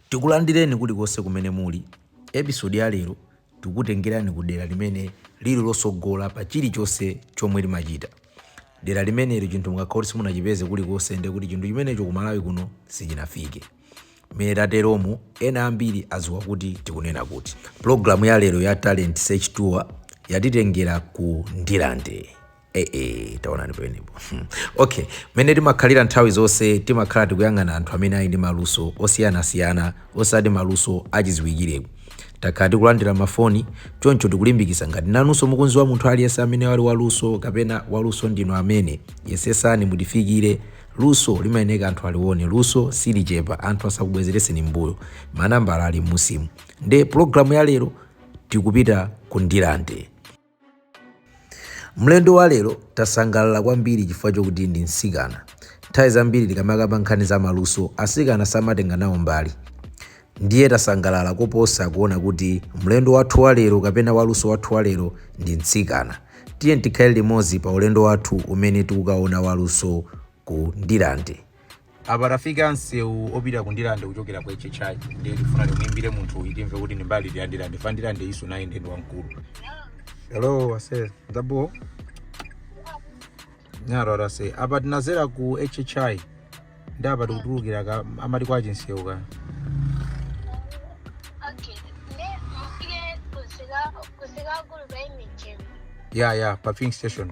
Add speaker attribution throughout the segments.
Speaker 1: Tikulandireni kulikonse kumene muli. Episode ya lero tikukutengerani ku dera limene lili lotsogola pa chilichonse chomwe limachita. Dera limeneli chinthu mukakhala kuti simunachipeze kulikonse ndiye kuti chinthu chimenecho ku Malawi kuno sichinafike. Mmene tateromu, ena ambiri adziwa kuti tikunena kuti. Pulogalamu ya lero ya Talent Search Tour yatitengera ku Ndirande. ee eh, eh, eh, taonani pamenepo hmm. okay mmene timakhalira nthawi zonse timakhala tikuyang'ana anthu amene ali ndi maluso osiyanasiyana osati maluso achiziwikireko takhala tikulandira mafoni choncho tikulimbikisa ngati nanunso mukunziwa munthu aliyense amene wali waluso kapena waluso ndinu amene yesesani mutifikire luso limayeneka anthu aliwone luso silichepa anthu asakubwezereseni mbuyo manambala ali musimu nde pulogalamu ya lero tikupita ku Ndirande Mlendo wa lero tasangalala kwambiri chifukwa chokuti ndi msikana. Nthawi zambiri tikamakamba nkhani za maluso, asikana samatenga nawo mbali. Ndiye tasangalala koposa kuona kuti mlendo wathu wa lero kapena waluso wathu wa lero ndi mtsikana. Tiye tikhale limodzi pa ulendo wathu umene tikukaona waluso ku Ndirande. Apa tafika msewu opita ku Ndirande kuchokera ku HHI ndiye tifuna timuimbire munthu uyu timve kuti ndi mbali iti ya Ndirande fa Ndirande iso nayo ndi ndi wamkulu. Hello, aise ndabo nyaro aise apa tinazera ku HHI ndi apa tikutulukira ka amati kwa Chinseu ka Okay.
Speaker 2: Ne mufike kusika kusika kuluba imijeni. ya ya pa
Speaker 1: filling station.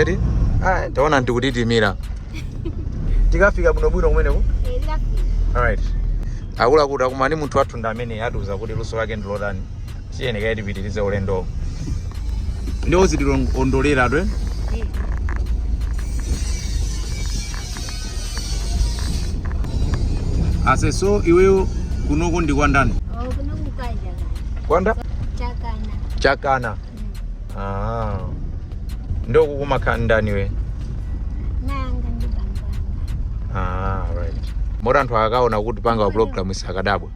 Speaker 1: eti ah, taona ndikutitimira tikafika bwinobwino kumeneko
Speaker 2: alright
Speaker 1: akuluakulu takumana ndi munthu wathu ndiye amene atiuza kuti luso lake ndi lotani tiyeni kaye tipitirize ulendowo ndiye uzitilondolera iwe aise so iweyo kunoko ndi kwa ndani
Speaker 2: Gwanda?
Speaker 1: Chakana.
Speaker 2: Chakana. Mm. Ah.
Speaker 1: Ndio kukumakha ndani we? Nanga
Speaker 2: ndi bambanga. Ah, right.
Speaker 1: Mora anthu akaona kuti panga wa program isakadabwa.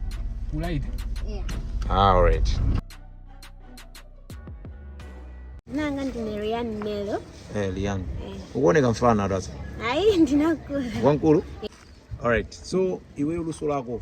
Speaker 3: Right. Yeah.
Speaker 2: Ah, right. Nanga ndi Marian Melo. Eh, Lian. Eh.
Speaker 1: Ukuoneka mfana sasa. Ai, ndinakula.
Speaker 2: Wankulu?
Speaker 1: All right. So, iwe uluso lako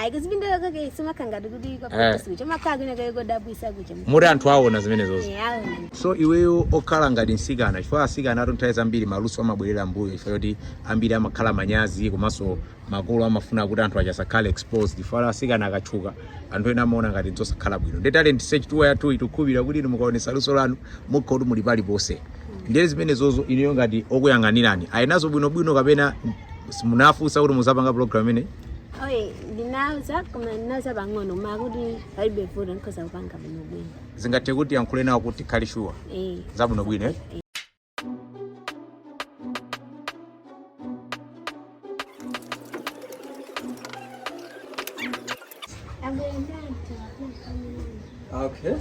Speaker 1: ayi kuzipindula
Speaker 2: kwake simakha ngati kuti Eh. kwakuti sikucha makhala kwina kaye kodabwisa kucha moti anthu
Speaker 1: aona zimenezozo Eh, aona so iweyo okhala ngati msikana chifukwa asikana atu nthawi zambiri maluso amabwerera mbuyo chifukwa choti ambiri amakhala manyazi komanso makolo amafuna kuti ana awo asakhale exposed chifukwa asikana akatchuka anthu ena amaona ngati zosakhala bwino ndi talent search tour yathu tikukhulupira kuti inu mukaonesa luso lanu mukhala kuti muli paliponse ndiye zimenezozo inuyo ngati okuyang'anirani ali nazo bwinobwino kapena simunafunsa kuti muzapanga program imeneyi
Speaker 2: Oye, ndinauza koma ndinauza pang'ono koma kuti palibe vuto ndikhoza kupanga bwino bwino. zingathe kuti muyankhule
Speaker 1: nawo kuti mukhale shuwa Eh. zabwino bwino
Speaker 2: eh?
Speaker 1: Okay.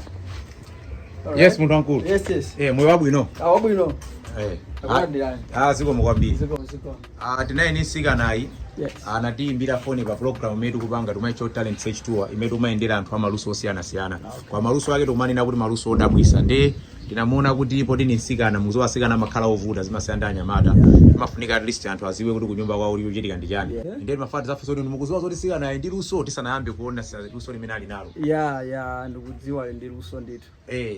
Speaker 1: yes munthu wankulu Yes, yes. eh, moyo wabwino
Speaker 4: Ah,
Speaker 1: wabwino.
Speaker 4: eh.
Speaker 1: Akulandirani. ah, zikomo kwambiri Ziko, ziko.
Speaker 4: Uh, tili naye
Speaker 1: mtsikanayu yes.
Speaker 4: anatiimbira uh,
Speaker 1: foni pa program imene tikupanga timaitcha talent search tour imene tikumayendera anthu amaluso osiyanasiyana okay. koma maluso ake tikumanena kuti maluso odabwisa nde tinamuona kuti poti ndi mtsikana mudziwa asikana amakhala ovuta zimasiyana ndi anyamata timafunika at least anthu aziwe kuti kunyumba kwawo kukuchitika chani yeah. ndiye timafuna tizafunsa kuti mukuziwa zoti mtsikanayu ali ndi luso tisanayambe kuona luso limene ali nalo ya ya
Speaker 4: ndikudziwa ali ndi luso ndithu eh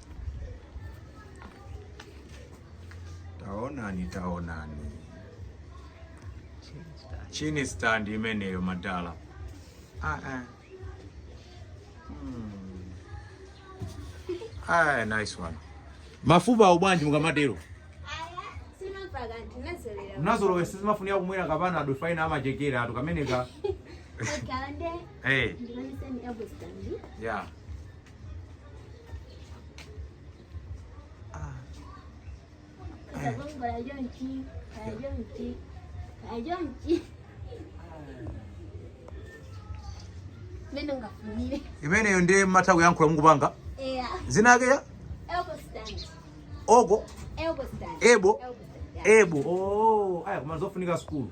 Speaker 1: taonani taonani chin stand imeneyo madala ah, ah. Hmm. Ah, nice one mafupa awo bwanji mukamatero mnazolowera sizimafunika kumwera ka Panado Brufen amachekera atu kameneka hey. yeah. imeneyo ndiye mmatha kuyankhula mukupanga dzina lake ya oko elbow elbow oh, aya koma zofunika sukulu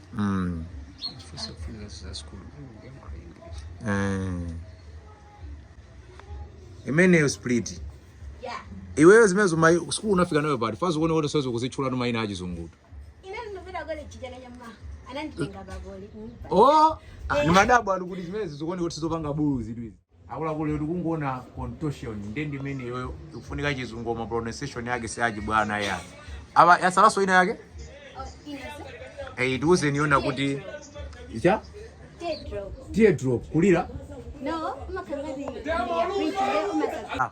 Speaker 1: Mm. Zikufuna za school. Yankhula English. Eh. imeneyo
Speaker 2: split Yeah. iweyo zimenezo
Speaker 1: koma sukulu unafika nayo pati apa zikuoneka kuti ukutha kuzitchulatu maina achizungutu Ine
Speaker 2: ndinangopita koleji chijana nyama.
Speaker 1: Ananditenga bagoli. o ni madabo ali kuti zimenezi zikuoneka kuti sizopanga buluzitu izi Akuluakulu inu tikuona contortion nde ndi imeneyoyo ikufunika chizungu koma pronunciation yake si yachibwana ya. Aba yatsalaso ina yake? Eh tiuzeni iyo mumaitcha Teardrop. teardrop kulira No,
Speaker 2: umakhala ngati ya bridge, nde umakhala- Ah.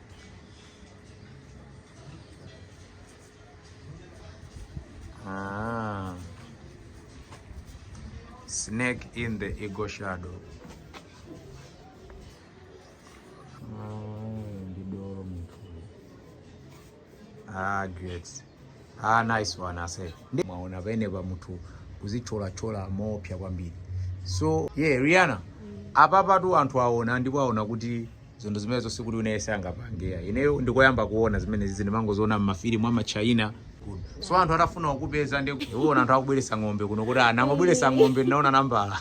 Speaker 1: Ah. Snake in the ego shadow. Ah, ndi doro munthu. Ah, great. Ah, nice one ase. Ndi- Mwaona pamenepa munthu kudzithyolathyola moopsa kwambiri. So, yeah, Rihanna. Apapatu anthu aona ndipo aona kuti zinthu zimenezo sikuti muyese mungapangire. Ineyo ndikoyamba kuona zimenezizi ndimangoziona m'mafilimu ama China. So anthu atafuna kukupeza ndikuona anthu akubweresa ng'ombe kuno kuti ena amabweresa ng'ombe ndinaona nambala.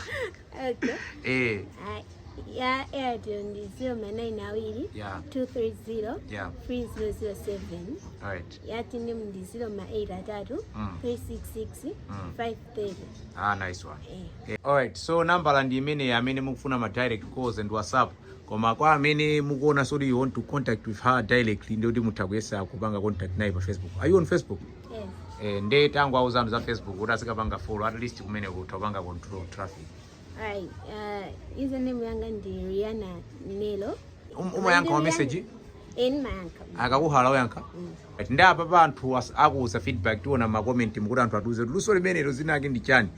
Speaker 2: Okay. Eh, Ah, ya Airtel ndi 0 ma 9 awiri yeah, 230 yeah. 3007. All right. yati ndi 0 ma 8 atatu Mm. 366 Mm.
Speaker 1: 530 ah nice one eh. Eh, alright so nambala ndi imeneyi amene mukufuna ma direct calls and whatsapp koma kwa amene mukuona zoti you want to contact with her directly ndiye kuti mutha kuyesa kupanga contact naye pa facebook are you on facebook yes. eh, nde
Speaker 2: tangowauzani
Speaker 1: za facebook kuti azikapanga follow at least kumene kutha kupanga control traffic
Speaker 2: Alright, uh, username yanga ndi Rihanna Nelo. Um- umayankha
Speaker 1: ma message Eee ndimayankha.
Speaker 2: akakuhala umayankha
Speaker 1: Right, nde apapa anthu as- akuuza feedback tiona makomentimu kuti anthu atiuze kuti luso limenelo dzina lake ndi chani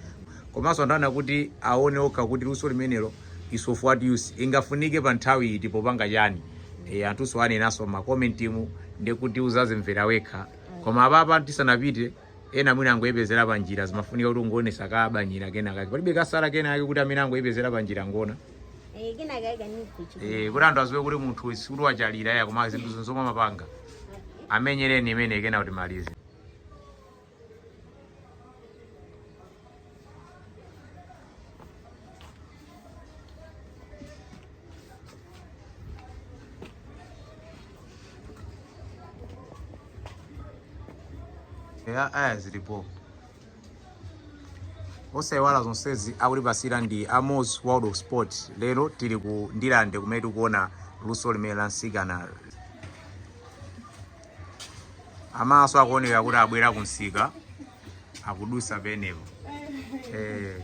Speaker 1: komanso anthu ena kuti aone okha kuti luso limenelo is of what use lingafunike pa nthawi iti popanga chani e, anthunso anenanso makomentimu ndekuti uzazimvera wekha koma apapa tisanapite ena mwina angotipezera pa njira zimafunika kuti uwaonese kabanyira kena kake palibe katsala kena kake kuti amene angotipezera pa njira ngona Eh, kena kake
Speaker 2: kanikuchi. eh kuti anthu aziwe
Speaker 1: kuti munthu uyu sikuti wachalira ya koma zinthu ndi zomwe amapanga amenyereni imeneyo kena kuti timalize ya aya zilipo osaiwala zonsezi akutipasira ndi a Moz world of sport lero tili ku ndirande kumene tikuona luso limeneli la mtsikana amasa akuoneka kuti abwera kunsika akudusa penepo eh.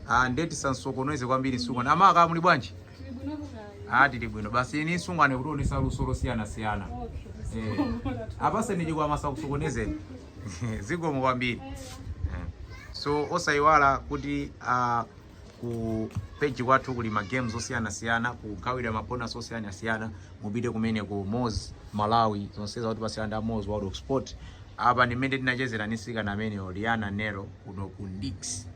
Speaker 1: ah, nde tisawasokoneze kwambiri sungwana amama muli bwanji ah, tili bwino basi ini sungwane akutionesa luso losiyanasiyana eh. apaseni chikwama sakusokonezeni zikomo kwambiri eh. so osayiwala kuti uh, ku page kwathu kuli ma games osiyanasiyana kugawira ma bonus osiyanasiyana mupite kumene ku Moz Malawi zonsezi akutipasira ndi a Moz World of Sport apa ndi mmene tinachezera ndi msikana ameneyo Rihanna Nelo kuno ku Ndix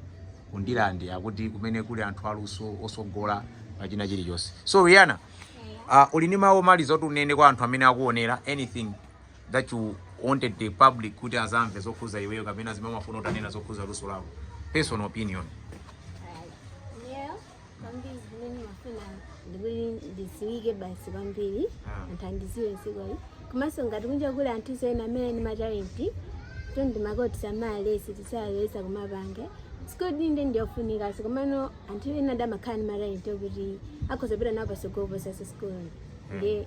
Speaker 1: ku Ndirande akuti kumene kuli anthu aluso osogola pa china chilichonse so Rihanna uh, uli ndi mawu omaliza oti unene kwa anthu amene akuonera anything that you wanted the public kuti azamve zokhuza iweyo kapena zimene umafuna utanena zokhuza luso lako personal opinion Yeah, kwambiri zimene
Speaker 2: ndimafuna ndikuti ndiziwike basi kwambiri Ah. anthu andiziwe sukulu komanso ngati kunja kuli anthu ena amene ali ndi matalenti nde ndimati asamaleke asaleke kumapanga sukulu ndi yofunika komano anthu ena amakhala ndi matalenti okuti akhoza kupita nawo pasogolo popanda sukulu ndi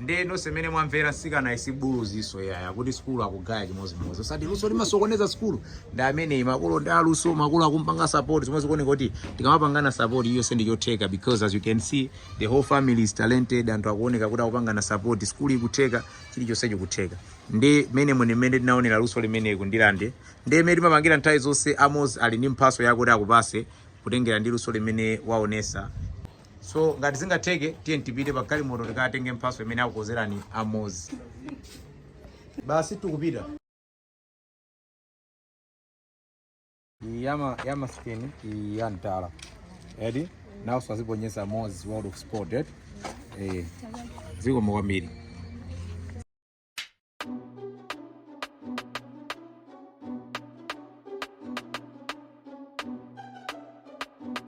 Speaker 1: Nde nonse mene mwamvera mtsikana isi buluzi iso yaya kuti sukulu akugaya chimodzimodzi osati luso limasokoneza sukulu nde amene makolo ndi aluso makolo akumpanga support zomwe zikuoneka kuti tikamapangana support iyo nde ndi chotheka because as you can see the whole family is talented anthu akuoneka kuti akupangana support sukulu ikutheka chilichonse chikutheka ndi mene mwene mene tinaonera luso limene ku Ndirande ndi mene timapangira nthawi zonse Amos ali ndi mphatso yakuti akupatse kutengera ndi luso limene waonetsa so ngati zingatheke tiye tipite pa galimoto tikatenge mphatso imene akukonzerani Amos basi tikupita yama yama skin ya mtala eti nawo saziponyesa Amos World of Sport eti eh zikomo kwambiri